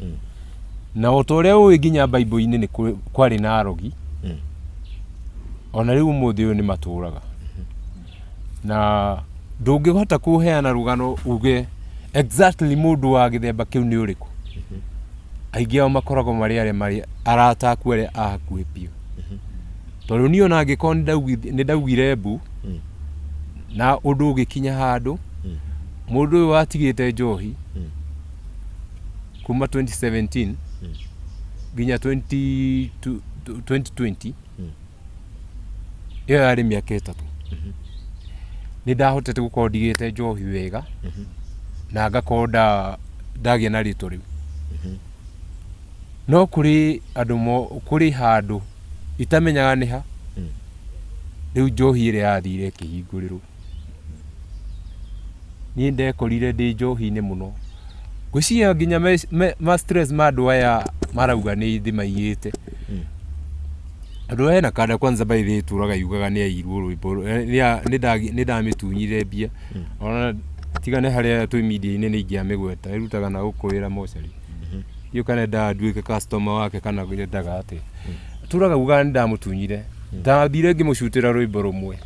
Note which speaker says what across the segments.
Speaker 1: Mm. na o ta ũrĩa ũĩ nginya baibũ-inĩ nĩ kũrĩ- kwarĩ na arogi Mm. o na rĩu ũmũthĩ ũyũ nĩ matũũraga na ndũngĩhota kũheana rũgano uge exactly mũndũ wa gĩthemba kĩu nĩ ũrĩkũ aingĩ ao makoragwo marĩ arĩa marĩ arata aku arĩa a hakuhĩ biũ tondũ niĩ ona angĩkorwo nĩ ndaugith- nĩ ndaugire mbu Mm. na ũndũ ũgĩkinya handũ Mm. mũndũ ũyũ watigĩte njohi Mm. kuma 2017 nginya 20 tu- tu- 2020 ĩyo yarĩ mĩaka ĩtatũ nĩ ndahotete gũkorwo ndigĩte njohi wega na ngakorwo nda- ndagĩa na rĩtwa rĩu no kũrĩ andũ mo- kũrĩ handũ itamenyaga nĩ ha rĩu njohi ĩrĩa yathire ĩkĩhingũrĩrwo Niĩ ndekorire ndĩ njohi-inĩ mũno. Ngwĩciria nginya ma stress ma andũ aya marauga nĩ thĩ maiyĩte. Tondũ he na kanda kwanza by the way ĩtũraga yugaga nĩ yaiyirwo rwĩmbo, nĩ ndamĩtunyire mbia, ona tiga nĩ harĩa twĩ media-inĩ nĩ ingĩamĩgweta, ĩrutaga na gũkũ wĩra mocarĩ. Ndiũĩ kana endaga nduĩke customer wake kana endaga atĩa. Atũraga augaga nĩ ndamũtunyire. Ndambire ngĩmũcutĩra rwĩmbo rũmwe.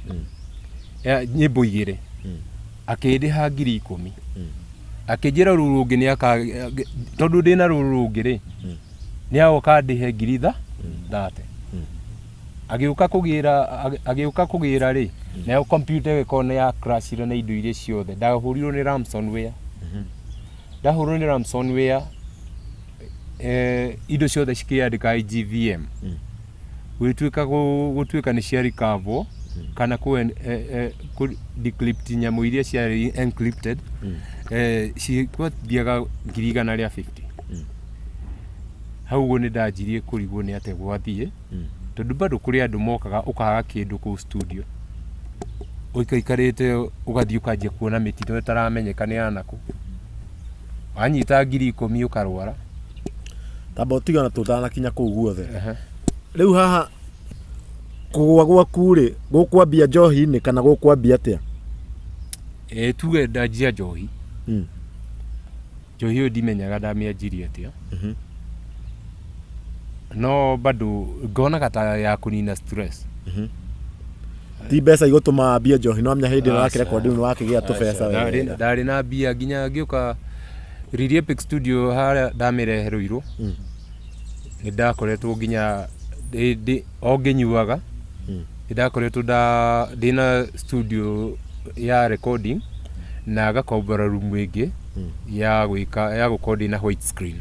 Speaker 1: ya nyimbo igĩrĩ akĩndĩha ngiri ikũmi akĩnjĩra rũu rũngĩ nĩ aka tondũ ndĩ na rũu rũngĩ rĩ nĩ agoka ndĩhe ngiri itha thate agĩũka kũgĩra agĩ- agĩũka kũgĩra rĩ nayo kompyuta ĩyo ĩkona ya crashire na indo iria ciothe ndahũrirwo nĩ ransomware ndahũrirwo nĩ ransomware eh, indo ciothe cikĩandĩka IGVM gwĩtuĩka gũtuĩka nĩ cia recover kana kũ eh, eh, kũ decrypt nyamũ iria ciarĩ encrypted mm. eh, cikwathiaga ngiri igana rĩa 50 mm. hau ũguo nĩ ndanjirie kũrigwo nĩ atĩa gwathiĩ mm. tondũ bado kũrĩ andũ mokaga ũkaga kĩndũ kũu studio ũikaikarĩte ũgathiĩ ũkanjia kuona mĩtino ĩtaramenyeka nĩ yanakũ wanyita ngiri ikũmi ũkarwara
Speaker 2: tamba ũtigana tũtanakinya kũu guothe rĩu haha kũgwa gwaku rĩ gũkwambia njohi-inĩ kana gũkwambia atĩa ĩ
Speaker 1: tuge ndanjia njohi Mm. njohi ũyũ ndimenyaga ndamĩanjirie atĩa Mhm. no bado ngonaga ta ya kũnina stress
Speaker 2: ti mbeca igũtũma ambie njohi no amenya hĩndĩ ĩno yake rekondi nĩ wakĩgĩa tũbeca Ndarĩ- wega ndarĩ na
Speaker 1: mbia nginya ngĩũka Riri Epic studio harĩa ndamĩrehe rũirũ nĩ ndakoretwo nginya ndĩ- ndĩ- o ngĩnyuaga nĩ ndakoretwo nda- ndĩ na studio ya recording na ngakombora rumu ĩngĩ ya gwĩka ya gũkorwo ndĩ na white screen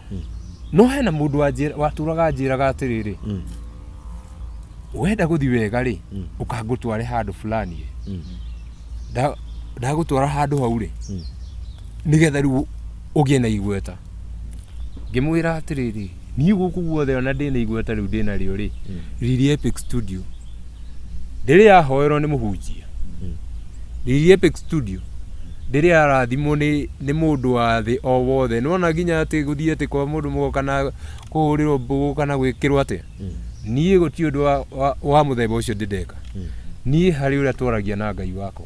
Speaker 1: no hena mũndũ wanjĩra- watũraga anjĩraga atĩrĩrĩ Mm. wenda gũthi wega rĩ Mm. ũkangũtware handũ fulani ĩ. Mm. Nda- ndagũtwara handũ hau rĩ Mm. nĩgetha rĩu ũgĩe na igweta ngĩmwĩra atĩrĩrĩ niĩ gũkũ guothe ona ndĩ na igweta rĩu ndĩ narĩo rĩ riri epic studio ndĩrĩ yahoerwo nĩ mũhunjia Lily Epic Studio ndĩrĩ yarathimwo nĩ nĩ mũndũ wa thĩ o wothe nĩwona nginya atĩ gũthiĩ atĩ kwa mũndũ mũgo kana kũhũrĩrwo mbũgũ kana gwĩkĩrwo atĩa niĩ gũtirĩ ũndũ wa- wa- wa mũthemba ũcio ndĩndeka niĩ harĩ ũrĩa twaragia na ngai wakwa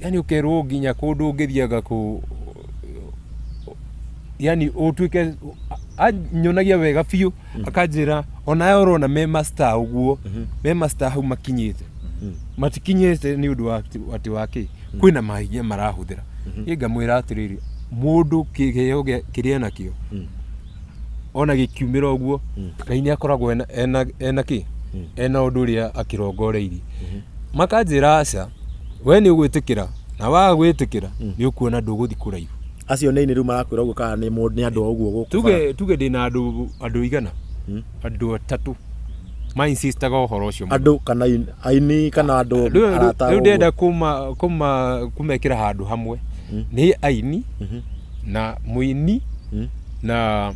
Speaker 1: yani ukerwo nginya kundu ngithiaga ku yani utuike anyonagia wega biũ akanjĩra onawe ũrona me master ũguo me master hau makinyĩte matikinyĩte nĩ ũndũ wa atĩ- atĩ wa kĩ kwĩna mahinya marahũthĩra ĩ ngamwĩra atĩrĩrĩ mũndũ kĩgeo gĩa- kĩrĩa nakĩo ona gĩkiumĩra ũguo mm. ngai nĩ akoragwo ena, ena, ena kĩ mm. ena ũndũ ũrĩa akĩrongoreirie mm -hmm. makanjĩra aca we nĩ ũgwĩtĩkĩra na waga gwĩtĩkĩra mm. nĩ ũkuona ndũgũthi kũraihu acio nĩ inĩ rĩu
Speaker 2: marakwĩra ũguo kana nĩ andũ a ũguo gũkũ tuge tuge ndĩ na
Speaker 1: andũ andũ igana mm. andũ atatũ ma insistaga horo ucio andu kana
Speaker 2: aini kana andu arata riu ndenda kuma
Speaker 1: kuma kumekira handu hamwe mm. ni aini mm -hmm. na mũini Mhm. na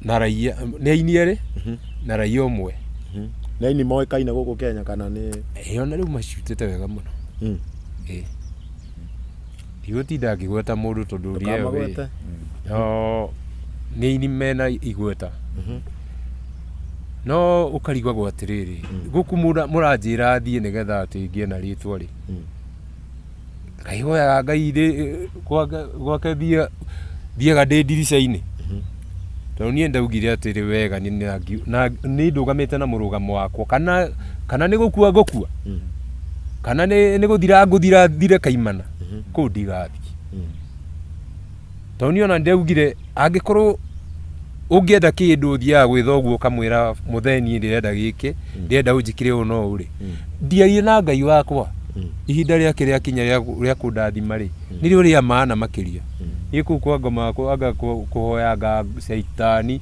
Speaker 1: na raia nĩ aini erĩ Mhm. na raia ũmwe Mhm. nĩ aini
Speaker 2: moĩkaine gũkũ kenya kana nĩ ĩĩ ona rĩu macutĩte
Speaker 1: wega mũno Mm. ĩĩ ndigũtinda ngĩgweta mũndũ tondũ ũria ĩyo ĩĩ. Ndũkamagwete. no nĩ aini mena igweta Mhm. no ũkarigagwo atĩrĩrĩ gũkũ mũra- mũranjĩra thiĩ nĩgetha atĩ ngĩe na rĩtwa rĩ Mm. Akaihoyaga Ngai ndĩ gwake- gwake thiaga thiaga ndĩ ndirica-inĩ tondũ niĩ ndaugire atĩrĩ wega nĩ nangi- na- nĩ ndũgamĩte na mũrũgamo wakwa kana kana nĩ gũkua ngũkua kana nĩ nĩ gũthira ngũthira thire kaimana kũu ndigathiĩ Tondũ niĩ ona nĩndeugire angĩkorwo ũngĩenda kĩndũ ũthiaga gwĩ thoguo ũkamwĩra mũthee niĩ ndĩrenda gĩkĩ ndĩrenda ũnjĩkĩre ũũ no ũrĩ ndiarie na ngai wakwa ihinda rĩake rĩakinya rĩa kũ- rĩa kũndathima rĩ nĩrĩo rĩa maana makĩria niĩ kũu kwa ngoma kwa- anga kũ- kũhoyanga caitani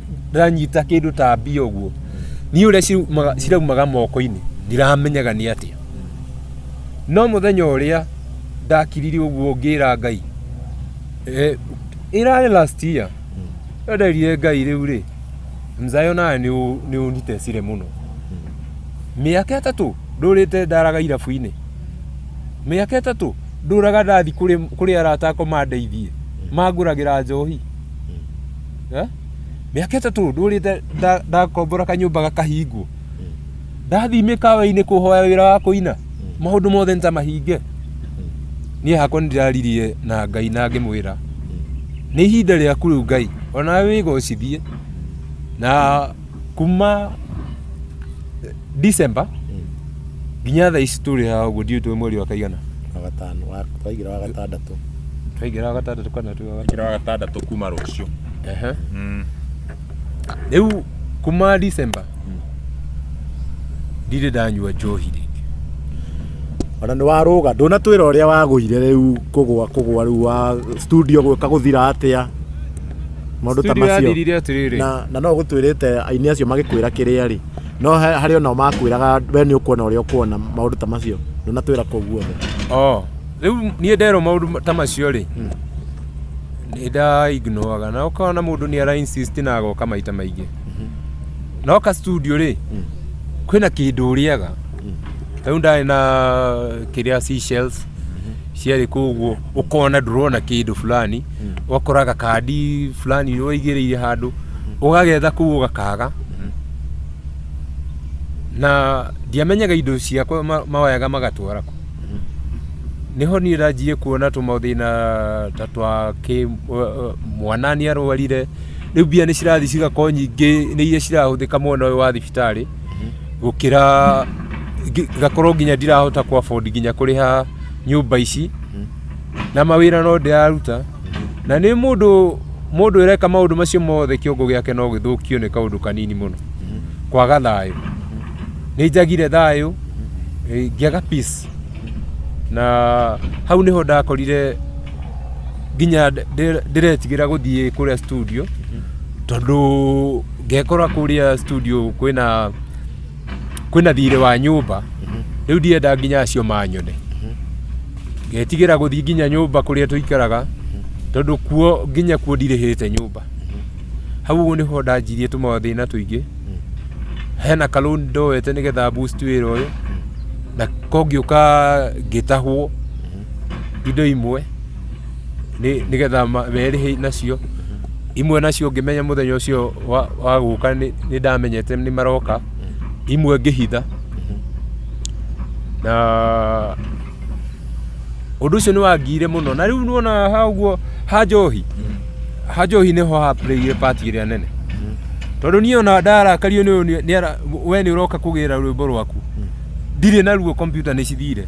Speaker 1: ndĩranyita kĩndũ ta mbia ũguo niĩ ũrĩa cirumaga- ciraumaga moko-inĩ ndiramenyaga nĩ atĩa no mũthenya ũrĩa ndakirire ũguo ngĩra ngai eh, ĩrarĩ last year ĩyo nderire ngai rĩu rĩ mzayo nawe nĩ ũ- nĩ ũnitecire mũno mĩaka ĩtatũ ndũrĩte ndaraga irabu-inĩ mĩaka ĩtatũ ndũraga ndathi kũrĩ kũrĩ arata akwa mandeithie mangũragĩra njohi Eh? mĩaka ĩtatũ ndũrĩte nda- ndakombora kanyũmba gakahingwo ndathiĩ mĩkawa-inĩ kũhoya wĩra wa kũina maũndũ mothe nĩtamahinge niĩ hakwa nĩndĩraririe na ngai na ngĩmwĩra nĩ ihinda rĩaku rĩu ngai onawe wĩgocithie na kuma December nginya thaa ici tũrĩ haha ũguo ndiũĩ tũĩ mweri wa kaigana wagatano wa-
Speaker 2: twaigĩra wa gatandatũ twaingĩra wa gatandatũ
Speaker 1: kana twĩ wa gatandatũ kira
Speaker 3: gatandatũ kuma rucio Ehe.
Speaker 1: rĩu kuma December ndirĩ ndanyua njohi rĩngĩ
Speaker 2: ona nĩ warũga ndũnatwĩra ũrĩa wagũire rĩu kũgwa kũgwa rĩu wa studio gwĩka gũthira atĩa Maũndũ ta Studio macio. yathirire atĩrĩrĩ. na, na no gũtwĩrĩte aini acio magĩkwĩra kĩrĩa rĩ no he- harĩ onao makwĩraga we nĩ ũkuona ũrĩa ũkuona maũndũ ta macio ndũnatwĩra kũu guothe Oh, rĩu
Speaker 1: niĩ nderwo maũndũ ta macio rĩ nĩ nda ignoraga na ũkona mũndũ nĩ ara insist na agoka maita maingĩ noka studio rĩ kwĩna kĩndũ ũrĩaga rĩu ndarĩ na kĩrĩa seashells ciarĩ kũ ũguo ũkona ndũrona kĩndũ fulani ũgakora gakandi fulani ũigĩrĩire handũ ũgagetha kũu ũgakaga na ndiamenyaga indo ciakwa ma- mawayaga magatwara kũ nĩho niĩ ndanjirie kuona tũmathĩna ta twa kĩ ũ- mwana nĩ arwarire rĩu mbia nĩ cirathiĩ cigakorwo nyingĩ nĩ iria cirahũthĩka mwena ũyũ wa thibitarĩ gũkĩra ngi- ngakorwo nginya ndirahota kũ afford nginya kũrĩha nyũmba ici na mawĩra no ndĩraruta na nĩ mũndũ mũndũ ĩreka maũndũ macio mothe kĩongo gĩake no gĩthũkio nĩ kaũndũ kanini mũno kwaga thayũ nĩ njagire thayũ eh, ngĩaga peace na hau nĩho ndakorire nginya ndĩ- ndĩ- ndĩretigĩra gũthiĩ kũrĩa studio tondũ ngekora kũrĩa studio kwĩna kwĩna thiirĩ wa nyũmba rĩu ndienda nginya acio manyone ngetigĩra gũthiĩ nginya nyũmba kũrĩa tũikaraga tondũ kuo nginya kuo ndirĩhĩte nyũmba hau ũguo nĩho ndanjirie tũmathĩna tũingĩ hena ka loan ndoete nĩgetha boost wĩra ũyũ na ko ngĩũka ngĩtahwo indo imwe nĩ- nĩgetha ma- merĩhe nacio imwe nacio ngĩmenya mũthenya ũcio wa- wa gũka nĩ nĩ ndamenyete nĩ maroka imwe ngĩhitha na ũndũ ũcio nĩ wangiire mũno na rĩu nuona ha ũguo ha njohi ha njohi nĩho ha playire part ĩrĩa nene tondũ niĩ ona ndarakario nĩ ũyũ nĩ- nĩ ara- we nĩ ũroka kũgĩra rwĩmbo rwaku ndirĩ naruo kompiuta nĩ cithire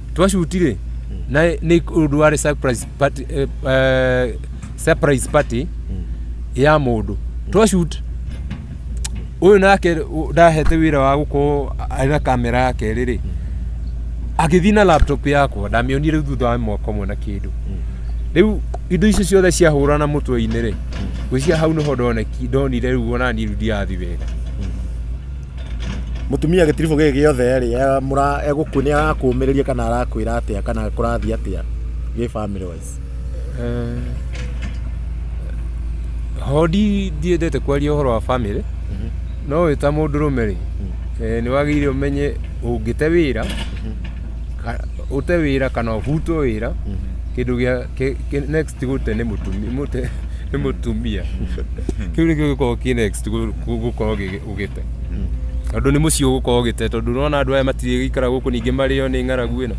Speaker 1: twashutire na ni undu wari surprise party eh, eh, surprise party ya mundu twashut uyu nake u- ndahete wira wa gukorwo ari na kamera yake riri agithii na laptop yakwa ndamionire riu thutha wa mwaka ũmwe na kindu riu indo icio ciothe ciahurana mutwe-inĩ ri gwĩcia hau nĩho ndoneki ndonire riu onani riu ndirathi wega
Speaker 2: Mũtumia gĩtiribũ gĩkĩ gĩothe rĩ, egũkũ nĩ arakũmĩrĩria kana arakwĩra atĩa kana kũrathiĩ atĩa gĩ family wise?
Speaker 1: Ho ndiendete kwaria ũhoro wa family, no wĩ ta mũndũrũme rĩ, nĩ wagĩrĩire ũmenye ũngĩte wĩra, ũte wĩra kana ũbutwo wĩra, kĩndũ gĩa next gũte nĩ mũtumia. Kĩu nĩkĩo gĩkoragwo kĩ next gũkorwo ũgĩte tondũ nĩ mũciĩ ũgũkorwo ũgĩte tondũ nona andũ aya matirĩ gĩikara gũkũ ningĩ marĩo nĩ ng'aragu ĩno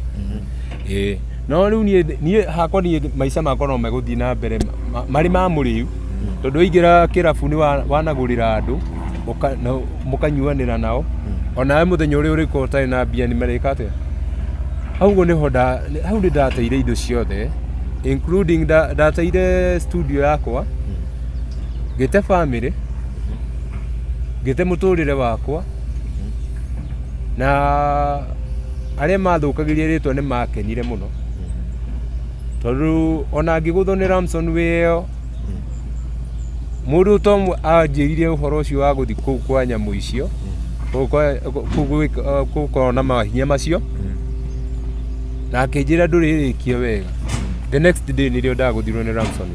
Speaker 1: ĩĩ no rĩu niĩ niĩ hakwa niĩ maica makwa no megũthiĩ na mbere ma- marĩ ma mũrĩu tondũ waingĩra kĩrabu nĩ wa- wanagũrĩra andũ ũka- na mũkanyuanĩra nao onawe mũthenya ũrĩa ũrĩkorwo ũtarĩ na mbia nĩ marĩka atĩa hau ũguo nĩho nda- nĩ- hau nĩ ndateire indo ciothe including nda- ndateire studio yakwa ngĩte bamĩrĩ ngĩte mũtũrĩre wakwa na arĩa mathũkagĩria rĩtwa nĩ makenire mũno tondũ ona ngĩgũthwo nĩ Ramson wĩyo mũndũ to mwe anjĩrire ũhoro ũcio wa gũthiĩ kũu kwa nyamũ icio kũu kwa- kũu gwĩka- eh, gũkorwo na mahinya macio na akĩnjĩra ndũrĩrĩkia wega the next day nĩrĩo ndagũthirwo nĩ Ramson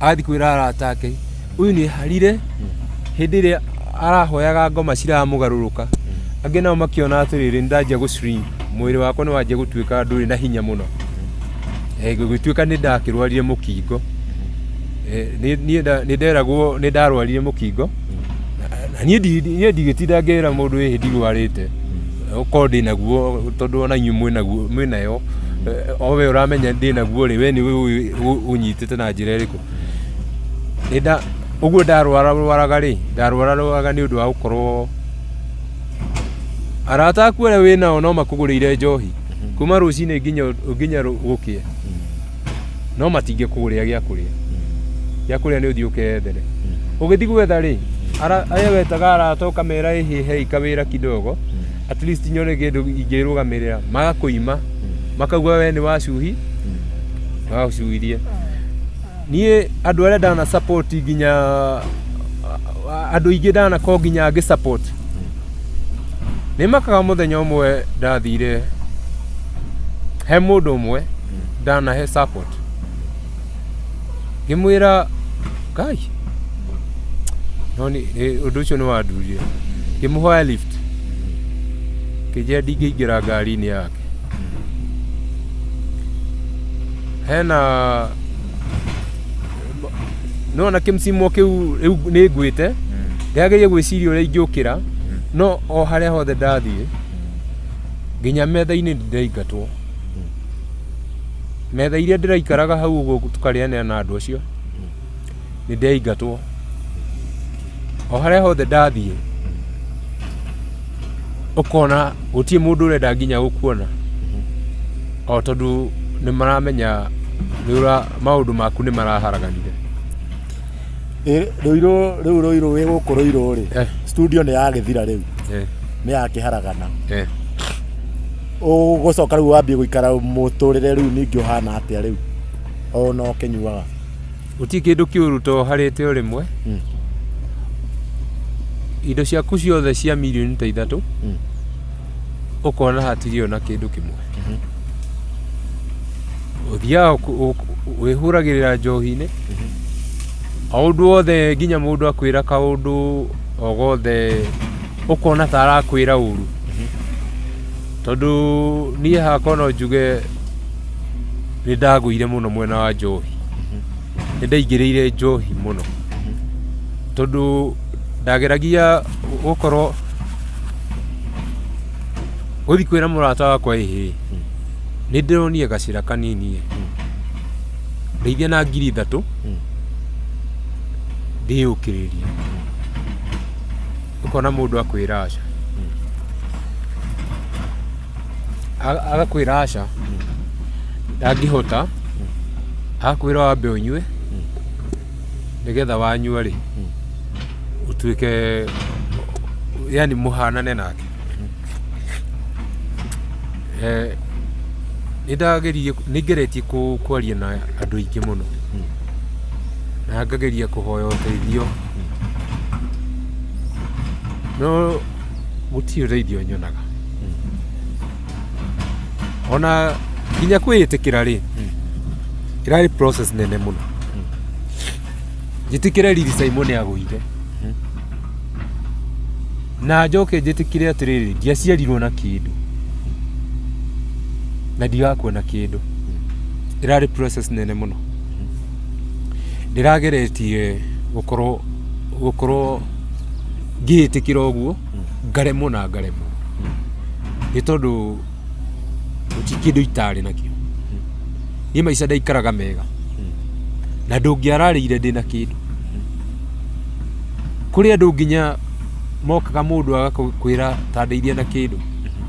Speaker 1: agathiĩ kwĩra arata ake ũyũ nĩ harire hĩndĩ ĩrĩa arahoyaga ngoma ciramũgarũrũka angĩ nao makĩona atĩrĩrĩ nĩ ndanjia gũ shrink mwĩrĩ wakwa nĩ wanjia gũtuĩka ndũrĩ na hinya mũno Eh, gũgĩtuĩka nĩ ndakĩrwarire mũkingo Eh, nĩ- niĩ nda- nĩ nderagwo nĩ ndarwarire mũkingo na niĩ ndi- niĩ ndigĩtinda ngĩra mũndũ ĩhĩ ndirwarĩte ũkorwo ndĩ naguo tondũ ona inyuĩ mwĩ naguo mwĩ nayo Eh, o we ũramenya ndĩ naguo rĩ we nĩ ũnyitĩte Ndĩte na njĩra ĩrĩkũ? Nĩnda ũguo ndarwara rwaraga rĩ, ndarwara rwaraga nĩ ũndũ wa gũkorwo arata aku arĩa wĩ nao no makũgũrĩire njohi kuma rũcinĩ nginya nginya rũ- gũkĩe no matingĩkũgũrĩra gĩa kũrĩa gĩa kũrĩa nĩ ũthiĩ ũkeethere ũgĩthiĩ gwetha rĩ ara- arĩa wetaga arata ũkamera ĩhĩ hei kawĩra kidogo at least nyone kindu ingĩrũgamĩrĩra magakũima makaigua we nĩ wacuhi magacuhirie niĩ andũ arĩa ndana support nginya a- a- andũ aingĩ ndanako nginya ngĩ support nĩ makaga mũthenya ũmwe ndathire he mũndũ ũmwe ndanahe support ngĩmwĩra kai no nĩ- nĩ- ũndũ ũcio nĩ wandurire ngĩmũhoya lift kĩnjĩra ndingĩingĩra ngari-inĩ yake hena nona kĩmcimo kĩu rĩu nĩ ngwĩte ndĩagĩrĩire gwĩciria ũrĩa ingĩũkĩra no o harĩa hothe ndathiĩ nginya metha-inĩ ndaingatwo Metha iria ndĩraikaraga hau ũguo tũkarĩanĩra na andũ acio nĩ ndĩaingatwo o harĩa hothe ndathiĩ ũkona gũtirĩ mũndũ ũrenda nginya gũkuona o tondũ nĩ maramenya nĩ ũra- maũndũ maku nĩ maraharaganire Ĩ, rũirũ
Speaker 2: rĩu rũirũ wĩ gũkũ rũirũ rĩ Eh. studio nĩ yagĩthira rĩu Eh, nĩ yakĩharagana eh. ũgũcoka rĩu wambie gũikara mũtũrĩre rĩu ningĩ ũhana atĩa rĩu ona ũkĩnyuaga gũtirĩ kĩndũ
Speaker 1: kĩũru to harĩte o rĩmwe Mm. indo ciaku ciothe cia mirioni ta ithatũ Mm. ũkona hatirĩ ona kĩndũ kĩmwe ũthiaga ũk- ũk- wĩhũragĩrĩra njohi-inĩ o ũndũ wothe nginya mũndũ akwĩra kaũndũ o gothe ũkona ta arakwĩra ũru tondũ niĩ hakwa no njuge nĩ ndagũire mũno mwena wa njohi nĩ ndaingĩrĩire njohi mũno tondũ ndageragia gũkorwo gũthiĩ kwĩra mũrata wakwa ĩhĩ nĩ ndĩronire gacĩra kanini ndeithia na ngiri ithatũ ndĩyũkĩrĩrie ukona mundu akwira aca A- agakwira aca ndangihota agakwira wambe unyue nigetha wanyua ri utuike yani muhanane nake Eh, nindageririe ningeretie ku- kwaria na andå aingä må no na ngageria kå hoya å teithio no gũtirĩ ũteithio nyonaga ona nginya kwĩĩtĩkĩra rĩ ĩrarĩ process nene mũno njĩtĩkĩre riri simon agũire na njoke njĩtĩkĩre atĩrĩrĩ ndiaciarirwo na kĩndũ na ndigakuona kĩndũ ĩrarĩ process nene mũno ndĩrageretie gũkorwo gũkorwo ngĩĩtĩkĩra ũguo ngaremwo na ngaremwo nĩ tondũ gũtirĩ kĩndũ itarĩ nakĩo niĩ maica ndaikaraga mega na ndũngĩararĩire ndĩ na kĩndũ kũrĩ andũ nginya mokaga mũndũ agakwĩra ta ndeithia na kĩndũ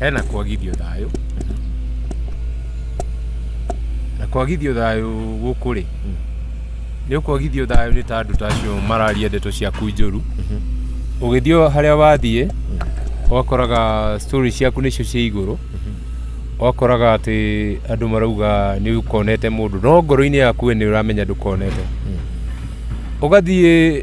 Speaker 1: hena kwagithio thayũ na kwagithio thayũ gũkũ rĩ nĩ ũkwagithio thayũ nĩ ta andũ ta acio mararia ndeto ciaku njũru ũgĩthiĩ o harĩa wathiĩ ũgakoraga story ciaku nĩcio cia igũrũ ũgakoraga atĩ andũ marauga nĩ ũkonete mũndũ no ngoro-inĩ yaku we nĩ ũramenya ndũkonete ũgathiĩ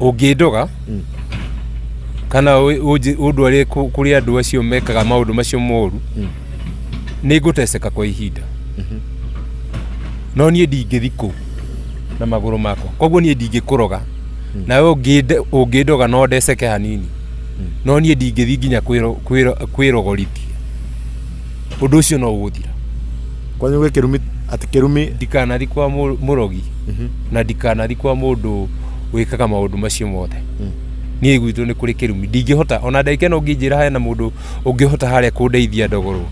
Speaker 1: Ũngĩndoga mm. kana ũndware kũrĩ andũ acio mekaga maũndũ macio moru mm. nĩ ngũteceka kwa ihinda mm-hmm. no niĩ ndingĩthi kũu na magũrũ makwa koguo niĩ ndingĩkũroga mm. nawe ũngĩndoga no ndeceke hanini no niĩ ndingĩthi nginya kwĩrogorithia ũndũ ũcio no ũgũthira kwanyu gwĩ
Speaker 2: kĩrumi atĩ kĩrumi ndikanathi kwa mũ-
Speaker 1: mũrogi na ndikanathi kwa mũndũ wĩkaga maũndũ macio mothe niĩ gwitũ nĩ kũrĩ kĩrumi ndingĩhota ona ndagĩka ĩno ũngĩnjĩra hena mũndũ ũngĩhota harĩa kũndeithia ndogorwo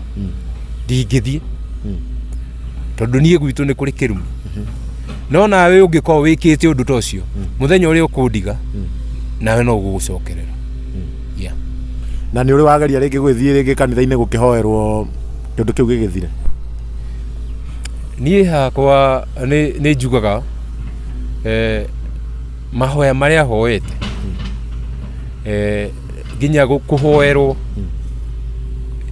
Speaker 1: ndingĩthiĩ tondũ niĩ gwitũ nĩ kũrĩ kĩrumi no nawe ũngĩkorwo wĩkĩte ũndũ ta ũcio mũthenya ũrĩa ũkũndiga nawe no gũgũcokerera Yeah.
Speaker 2: Na nĩ ũrĩ wageria rĩngĩ gwĩthiĩ rĩngĩ kanitha-inĩ gũkĩhoerwo kĩndũ kĩu gĩgĩthire?
Speaker 1: Niĩ hakwa nĩ nĩ njugaga eh, mahoya marĩa hoete eh, nginya gũ- kũhoerwo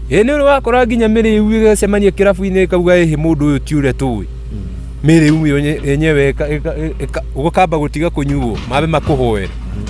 Speaker 1: ĩ nĩ ũrĩ wakora nginya mĩrĩu ĩgacemania kĩrabu-inĩ ĩkauga ĩhĩ mũndũ ũyũ ti ũrĩa tũĩ mĩrĩu yenye- yenyewe ĩka- ĩka- ĩka- ũkamba gũtiga kũnyuo mambe makũhoere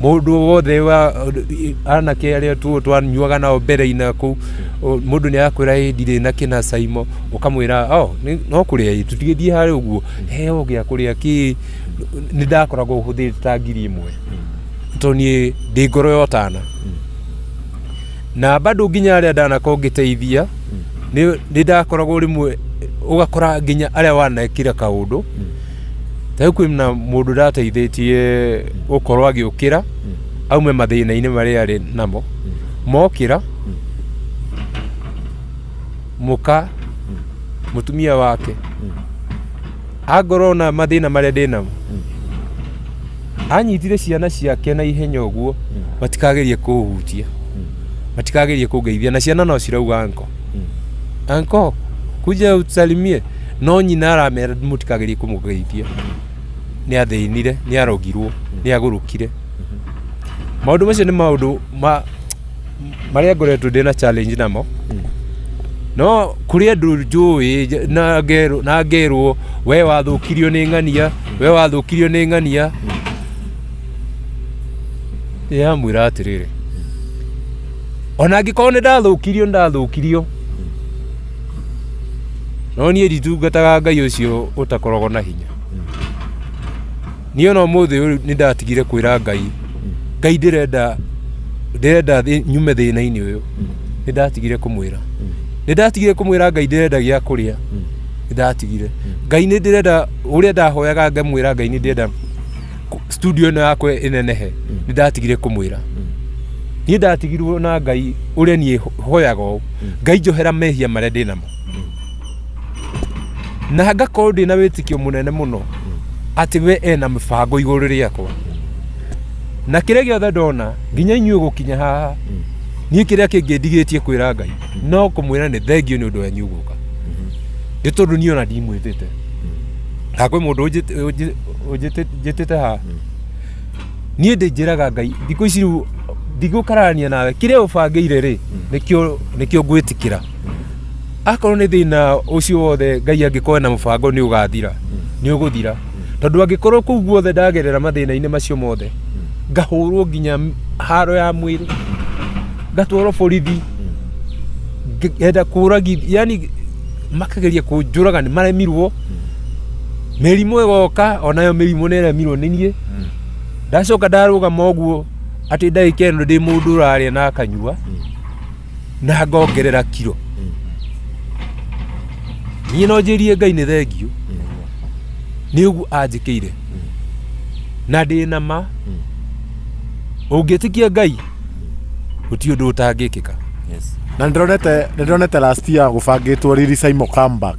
Speaker 1: Mũndũ o wothe wa anake arĩa tuo twanyuaga nao mbere-inĩ na kũu, o- mũndũ nĩ arakwĩra "Ĩ, ndirĩ na kĩna caimo, ũkamwĩra "Oh, nĩ- no kũrĩa ĩ, tũtigĩthiĩ harĩ ũguo, heo gĩa kũrĩa kĩ, nĩ ndakoragwo hũthĩrĩte ta ngiri ĩmwe, tondũ niĩ ndĩ ngoro ya ũtana na bado nginya arĩa ndanakorwo ngĩteithia nĩ nĩ ndakoragwo rĩmwe ũgakora nginya arĩa wanekire kaũndũ Tarĩu kwĩna mũndũ ndateithĩtie gũkorwo agĩũkĩra aume mathĩna-inĩ marĩa arĩ namo mokĩra mũka mũtumia wake angorwo na mathĩna marĩa ndĩ namo anyitire ciana ciake na ihenya ũguo matikagerie kũhutia matikagerie kũngeithia na ciana no cirauga anko anko kuja utusalimie no nyina aramera mũtikagerie kũmũgeithia nĩ athĩnire nĩ arogirwo nĩ agũrũkire maũndũ macio nĩ maũndũ ma marĩa ngoretwo ndĩ na challenge namo no kũrĩ andũ njũĩ nja- na ngerwo- na ngerwo we wathũkirio nĩ ng'ania we wathũkirio nĩ ng'ania yamwĩra atĩrĩrĩ ona angĩkorwo nĩ ndathũkirio nĩ ndathũkirio No niĩ nditungataga Ngai ũcio ũtakoragwo na hinya. Niĩ ona ũmũthĩ ũyũ nĩ ndatigire kwĩra Ngai, Ngai ndĩrenda ndĩrenda thĩ- nyume thĩna-inĩ ũyũ. Nĩ ndatigire kũmwĩra. Nĩ ndatigire kũmwĩra Ngai ndĩrenda gĩa kũrĩa. Nĩ ndatigire. Ngai nĩ ndĩrenda ũrĩa ndahoyaga ngamwĩra Ngai nĩ ndĩrenda kũ- studio ĩno yakwa ĩnenehe nĩ ndatigire kũmwĩra niĩ ndatigirwo na ngai ũrĩa niĩ ho- hoyaga ũũ ngai njohera mehia marĩa ndĩ namo na ngakorwo ndĩ na wĩtikio mũnene mũno atĩ we ena mĩbango igũrũ rĩakwa na kĩrĩa gĩothe ndona nginya inyuĩ gũkinya haha niĩ kĩrĩa kĩngĩ ndigĩtie kwĩra ngai no kũmwĩra nĩ thengio nĩ ũndũ wanyu gũka nĩ tondũ niĩ ona ndimwĩtĩte na kwĩ mũndũ ũnjĩt- ũnjĩ- Ũnjĩtĩ- njĩtĩte haha niĩ ndĩnjĩraga ngai thikũ ici rĩu ndigũkararania nawe kĩrĩa ũbangĩire rĩ nĩkĩo nĩkĩo ngwĩtĩkĩra akorwo nĩ thĩna ũcio wothe ngai angĩkorwo na mũbango nĩ ũgathira nĩ ũgũthira tondũ angĩkorwo kũu guothe ndagerera mathĩna-inĩ macio mothe ngahũrwo nginya m- haro ya mwĩrĩ ngatwarwo borithi ngenda kũragi yani makageria kũnjũraga nĩ maremirwo mĩrimũ ĩgoka onayo mĩrimũ nĩ ĩremirwo nĩ niĩ ndacoka ndarũgama ũguo atĩ ndagĩka ĩno ndĩ mũndũ ũrarĩa na akanyua na ngongerera kiro niĩ no njĩrie ngai nĩ thengiũ nĩ ũguo anjĩkĩire na ndĩ na ma ũngĩtĩkia ngai gũtirĩ ũndũ ũtangĩkĩka na
Speaker 2: nĩndĩronete nĩndĩronete last year gũbangĩtwo riri saimo comeback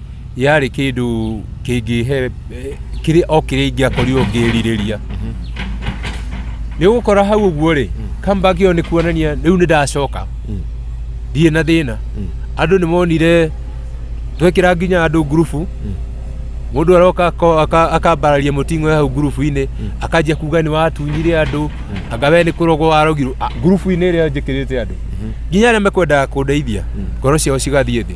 Speaker 1: yarĩ kĩndũ kĩngĩhe kĩrĩ o kĩrĩa ingĩakorirwo ngĩrirĩria nĩ ũgũkora hau ũguo rĩ comeback ĩyo nĩ kuonania rĩu nĩ ndacoka ndirĩ na thĩna andũ nĩ monire twekĩra nginya andũ ngurubu mũndũ aroka ako- aka- akambararia mũting'o ya hau ngurubu-inĩ akanjia kuga nĩ watunyire andũ anga we nĩ kũrogwo warogirwo Ah, ngurubu-inĩ ĩrĩa njĩkĩrĩte andũ nginya arĩa mekwendaga kũndeithia ngoro ciao cigathiĩ thĩ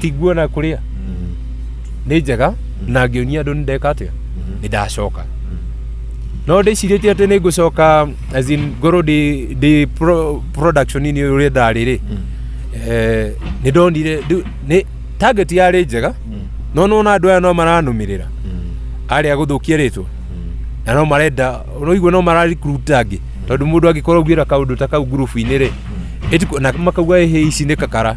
Speaker 2: ti nguo na kũrĩa
Speaker 1: nĩ njega na ngĩonia andũ nĩ ndeka atĩa nĩ ndacoka no ndĩcirĩtie atĩ nĩ ngũcoka as in ngorwo ndĩ ndĩ pro- production-inĩ ũrĩa ndarĩ rĩ eh, nĩ ndonire ndũ- nĩ target yarĩ njega no nona andũ aya no maranũmĩrĩra arĩa gũthũkia rĩtwa na no marenda ũraigua no mararikuruta angĩ tondũ mũndũ angĩkorwo augĩra kaũndũ ta kau ngurubu-inĩ rĩ ĩti- na makauga ĩhĩ ici nĩ kakara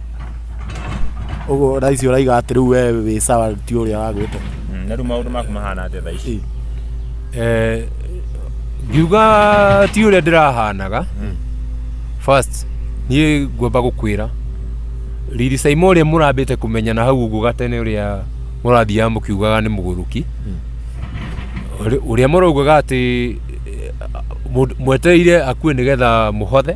Speaker 2: Ũguo Raisi ũraiga atĩ rĩu we wĩ sawa ti ũrĩa wagwĩte. Mm, na rĩu maũndũ maku
Speaker 3: mahana atĩa thaa ici? Eh,
Speaker 1: ngiuga ti ũrĩa ndĩrahanaga first niĩ ngwamba gũkwĩra riri saima ũrĩa mũrambĩte kũmenyana hau ũguo gatene ũrĩa mũrathiaga mũkiugaga nĩ mũgũrũki Ũrĩ- ũrĩa mũraugaga atĩ eh, mũndũ- mwetereire akue nĩgetha mũhothe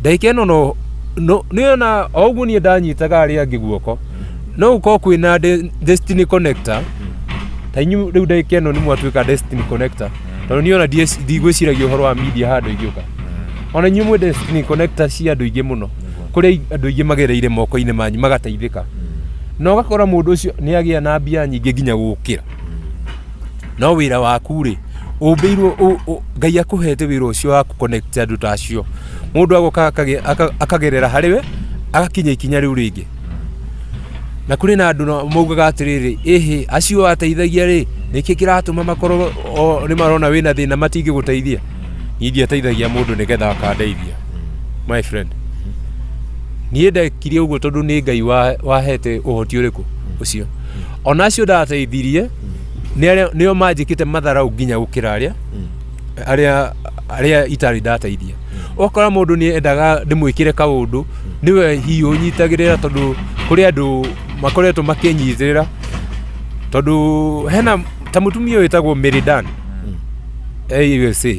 Speaker 1: ndagĩka ĩno no no nĩ ona o ũguo niĩ ndanyitaga arĩa angĩ guoko no gũkorwo kwĩna de- destiny connector ta inyu rĩu ndagĩka ĩno nĩ mwatuĩka destiny connector tondũ niĩ ona ndiec- ndigwĩciragia ũhoro wa media handũ ingĩũka ona inyuĩ mwĩ destiny connector cia andũ aingĩ mũno kũrĩa i- andũ aingĩ magereire moko-inĩ manyu magateithĩka na ũgakora mũndũ ũcio nĩ agĩa na mbia nyingĩ nginya gũkĩra no wĩra waku rĩ ũmbĩirwo ũ- ũ- ngai akũhete wĩra ũcio wa kũconnect andũ ta acio mũndũ agoka akage- aka- akagerera harĩ we agakinya ikinya rĩu rĩngĩ na kũrĩ na andũ na- maugaga atĩrĩrĩ ĩhĩ acio ateithagia rĩ nĩkĩ kĩratũma makorwo o- nĩ marona wĩna thĩna matingĩgũteithia niĩ ndiateithagia mũndũ nĩgetha akandeithia my friend niĩ ndekire ũguo tondũ nĩ ngai wa- wahete ũhoti ũrĩkũ ũcio ona acio ndateithirie nĩo manjĩkĩte matharau nginya gũkĩra arĩa arĩa arĩa itarĩ ndateithia okora mũndũ nĩ endaga ndĩmwĩkĩre kaũndũ nĩwe hihi ũnyitagĩrĩra tondũ kũrĩ andũ makoretwo makĩnyitĩrĩra tondũ hena ta mũtumia wĩtagwo Meridan AUSA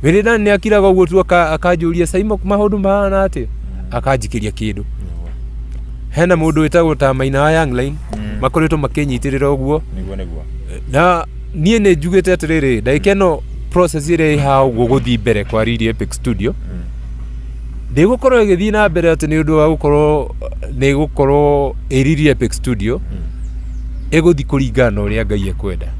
Speaker 1: Meridan nĩ akiraga ũguo tu akanjũria Saimo maũndũ mahana atĩa akanjikĩria kĩndũ hena mũndũ wĩtagwo ta maina wa young line Mm. makoretwo makĩnyitĩrĩra ũguo niguo niguo na niĩ nĩ njugĩte atĩrĩrĩ ndagĩka ĩno process ĩrĩa ĩha ũguo gũthiĩ mbere kwa Riri Epic Studio Mm. ndĩgũkorwo ĩgĩthiĩ na mbere atĩ nĩ ũndũ wa gũkorwo nĩ gũkorwo ĩ Riri Epic Studio ĩgũthiĩ kũringana na ũrĩa Ngai ekwenda